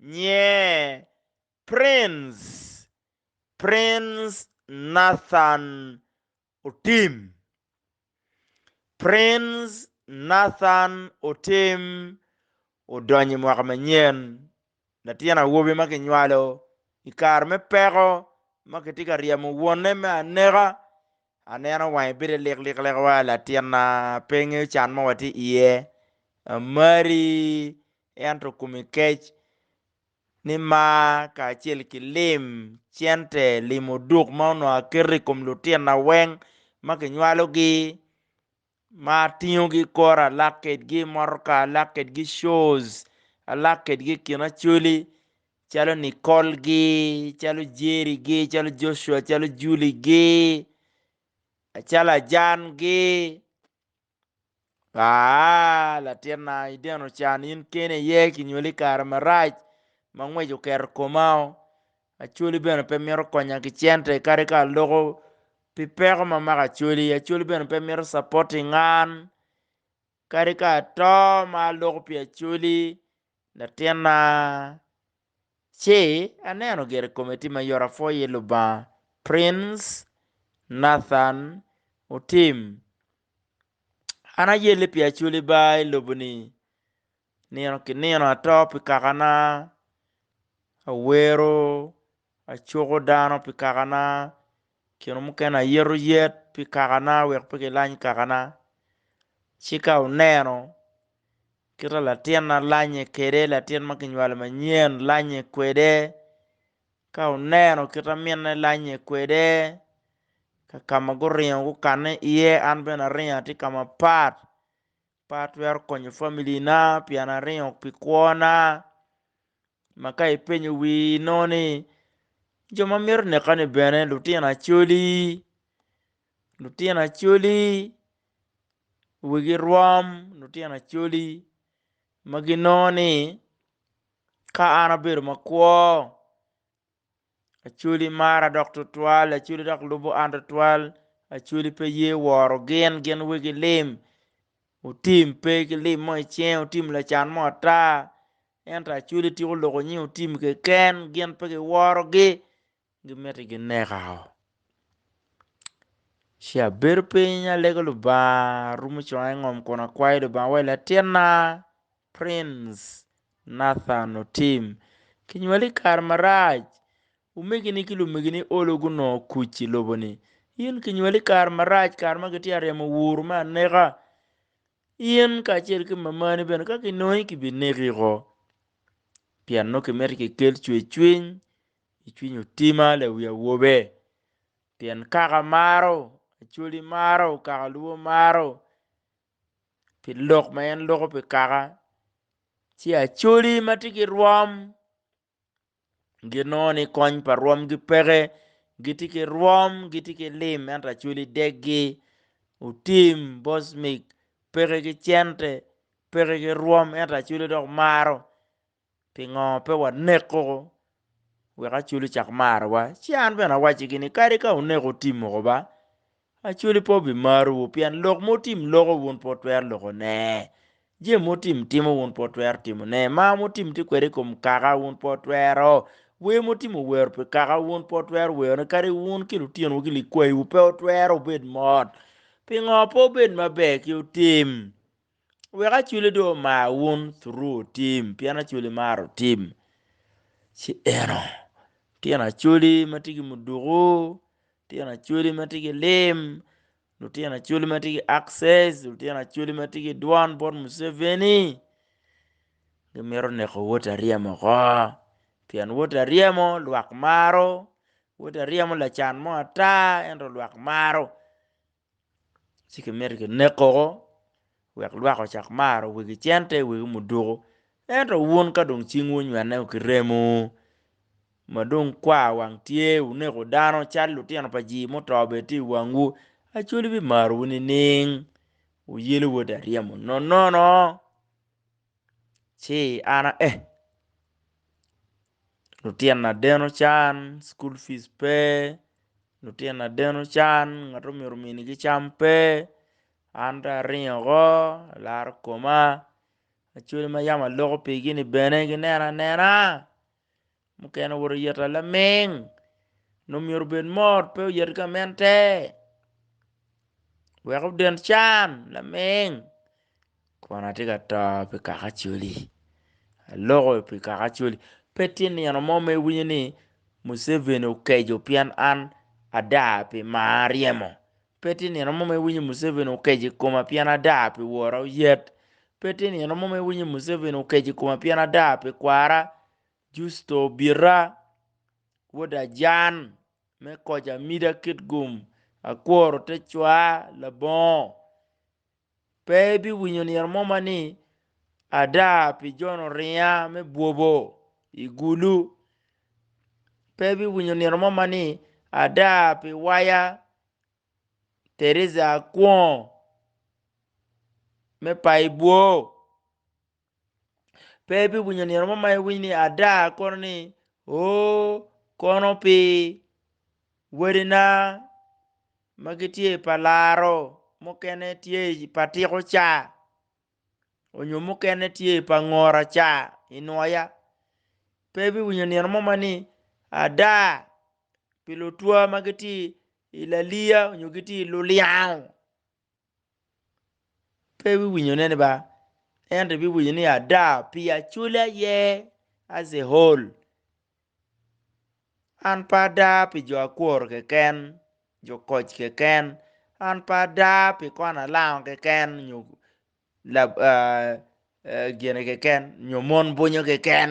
Nye, Prince, Prince Nathan Otim. Prince Nathan Otim odonyo i mwaka manyen. Latin awobi ma kinywalo i kare me peko ma kitye ka ryemo wonne me aneka. Aneno wange bite liklik lek wa, latinna pe ngeyo can ma watye iye. Amari ento kome kec ni mar kacel ki lim cente, lim oduk ma onongo aketo i kom lutina weng ma kinywalogi ma atingogi kore alak kwedgi i motoka, alak kwedgi shows, alak kwedgi i kin Acholi calo Nicole gi, calo Jerry gi, calo Joshua, calo Julie gi, calo Ajan gi. Aa, latinna, ideno can, in keni aye kinywali i kare marac ma ngwec oketo komao. Acholi bene pe mito konya ki cente kadi ka aloko pi peko ma mako acholi. Acholi bene pe mito supporting an kadi ka ato ma aloko pi acholi Latinna, ci aneno gire kome tye mayot apwoyo iye Lubanga. Prince Nathan Otim, An ayelle pi Acholi ba i lobo-ni. Nino ki nino ato pi kakana, awero, acuko dano pi kakana, Kine mukene ayeto yet pi kakana wek pe gilany kakana. Ci ka oneno kite latinna lanye kwede, latin ma kinywalo manyen lanye kwede, ka oneno kite aminne lanye kwede, ka ka ma guringo gukanne iye, an bene aringo atye i ka mapat. Pe atwero konyo familina pien aringo pi kwona. Ma ka ipenyo wii inongo ni, Jo ma mito nekani bene lutino Acholi? Lutino Acholi wigi rwom, lutino Acholi ma ginongo ni ka an abedo makwo Acwali mara dok tutwal, acwali dok lubo an tutwal, acwali pe ye woro gin, gin wegi lim, otim pe ki lim mo icinge, otim lacan mo ata, ento acwali tika oloko nying otim keken, gin pe giworogi, gimiti gineka o. Ci abedo piny alego Lubanga, arumo conga i ngom kun akwayo Lubanga, awaco ni Latinna, Prince Nathan Otim, Kinywali i kare marac. Omegini ki lumegini olo gunongo kuc i lobo ni, In kinywali i kare marac, kare ma kitye ka ryemo wuru me aneka. In kacel ki mamani bene ka kinongi kibineki woko. Pien nongo kimito kikel cwercwiny i cwiny Otima lawi awobe. Pien kaka maro, Acholi maro, kaka Luo maro, pi lok ma en loko pi kaka ci acholi ma tye ki rwom ginongo ni kony pa rwomgi peke gitye ki rwom gitye ki lim ento acholi deggi otim bot mic peke ki cente peke ki rwom ento acholi dok maro Pingo pe waneko wek Acholi cak marowa? Ci an bene awaccigi ni, Kadi ka wuneko otim moko ba, Acholi pe obimarowu, pien lok ma otim loko wun pe wutwero lokone, jami ma otim timo wun pe wutwero timone, mar ma otim tye kwede i kom kaka wun pe wutwero, wer ma otim owero pi kaka wun pe wutwero werone, kadi wun ki lutyenowu ki likwayiwu pe wutwero wubed mot. Pingo pe wubed maber ki otim? Wek Acholi dong omar wun through team pien Acholi maro team. Ci eno tyen Acholi ma tye ki muduku, tyen Acholi ma tye ki lim, lutyen Acholi ma tye ki access, lutyen Acholi ma tye ki dwan bot Museveni gimito neko woti aryem oko pien woti aryemo lwak maro, woti aryemo lacan mo ata ento lwak maro. ci kimito kineko woko wek lwak ocak maro wegi cente wegi muduku ento wun ka dong cingwu onywene wa ki remo ma dong kwar wang tye wuneko dano calo lutino pa jii muto bene tye i wangwu Acholi bimarowu nining wuyelo wode aryemo nonono. ci an aye lutyena deno can cukul fic pe lutyena deno can ngat ma myero ominigi cam pe an dong aringo woko alaro koma ma yam aloko pigi ni bene ginena anena. Mukene owoto oyeta laming, nongo myero obed mot pe oyet gamente wek oden can laming. Kono atye ka to pi kaka coli, aloko pi kaka coli. Pe tye nino mo ma iwinyo ni Museveni okeco pien an ada pi maa aryemo, pe tye nino mo ma iwinyo ni Museveni okeco i koma pien ada pi wora oyet, pe tye nino mo ma iwinyo ni Museveni okeco i koma pien ada pi kwara. Justo bita, wod ajan me koc amida kit gum, akworo te cwar labongo. Pe ibiwinyo nino mo ma ni, Ada pi jono ringa me bwobo i gulu. Pe ibiwinyo nino mo ma ni, Ada pi waya Teresa Akwongo me paibwo. pe ibiwinyo nino mo ma iwiny ni ada kono ni oo kono pi wadina ma gitye i pa laro mukene tye i pa tiko ca onyo mukene tye i pa ngora ca i nwoya pe ibiwinyo nino mo ma ni ada pi lutwa ma gitye i laliya onyo gitye i luliyango pe wiwinyone ni ba, ento ibiwinyo ni ada pi acwali aye as a whole. An pe ada pi jo akwor keken, jo koc keken, an pe ada pi kwon alango keken nyo gine keken nyo mon bunyo keken.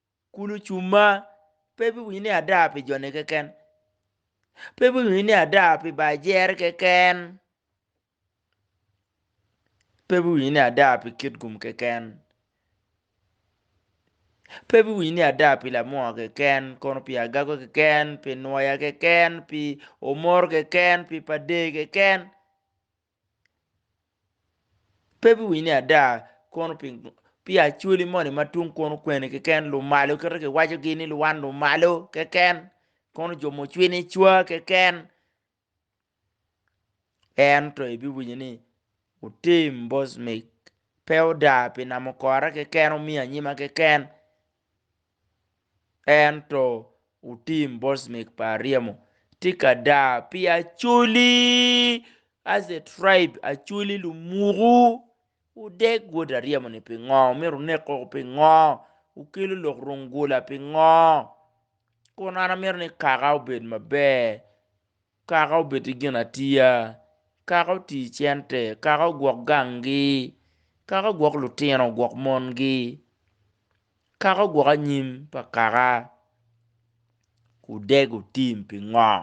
Kun ocumma, pe biwinyo ni ada pi jone keken, pe biwinyo ni ada pi bar jere keken, pe biwinyo ni ada pi kit gum keken, pe biwinyo ni ada pi lamua keken, kono pi agago keken, pi nwoya keken, pi omoro keken, pi pa dee keken. pe biwinyo ni ada kono pingo pi acholi moni ma tung kono kwene keken lumalo kit ma kiwaco gi ni luwan lumalo keken kono jo mucwini cwa keken ento ibiwinyo ni otim bosmik pe oda pi namo kore keken omiyo anyima keken Ento wutim bocmik pa ryemo. Tika da pi acoli, as a tribe, acoli lumuku? Wudeg wod aryemo ni pingo? Wumito wunek koko pingo? Wukelo lok rung gula pingo? Kun an amito ni kaka obed maber. Kaka obed ki ginatiya, kaka oti cente, kaka ogwok gangi, kaka ogwok lutino, ogwok mongi, kaka ogwok anyim pa kaka, wudego tim pingo?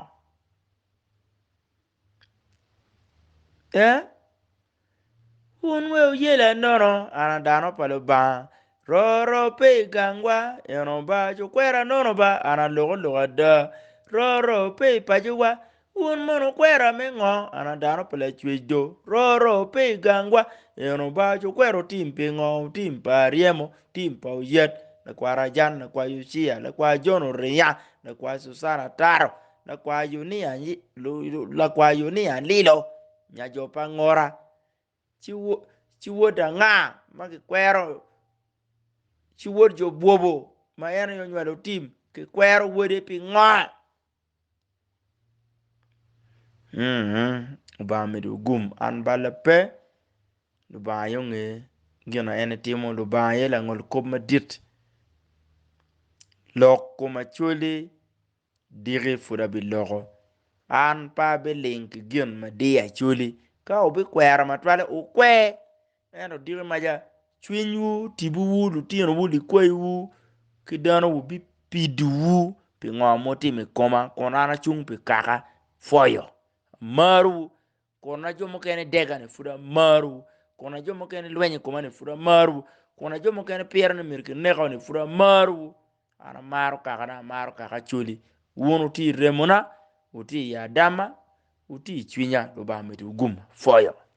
Ee, Wun we wuyela nono, an a dano pa Lubanga. Roro pe i gangwa, eno ba, cu kwera nono ba, an a loko lok ada. Roro pe i pacowa, wun mono wukwera me ngo? An a dano pa Lacwec do. Roro pe i gangwa, eno ba, cu kwera wutim pingo? Wutim pa Aryemo, wutim pa Oyat, lakwar Ajan, lakwar Yuciya, lakwar Jon Uriya, lakwar Cucana Taro, lakwar Yunia Lilo. Nya jo pa angora, ci wod anga ma kikwero? Ci wod jo bwobo ma en aye onywalo tim, kikwero wode pingo? Lubanga omyero ogum an balla pe, Lubanga aye onge gin ma en timo, Lubanga aye langol kop madit. Lok kom Acholi Diki pud abiloko. An pe abiling ki gin ma diyo acoli. Ka wubikwera matwale, wukwe. Ento diki maca, cwinywu, tibuwu, lutinowu, likwayiwu ki danowu bipidowu pingo mutimo i koma, kun an acung pi kaka pwoyo. Amarowu, Kun ajo mukene dega ni pud amaru, kun ajo mukene lweny i koma ni pud amaru, kun ajo mukene piro ni myero kineka ni pud amaru. An amaro kaka dok amaro kaka acoli. Wun wuti i remona, wuti i adama, wuti i cwinya, Lubanga miti wuguma. Foyo.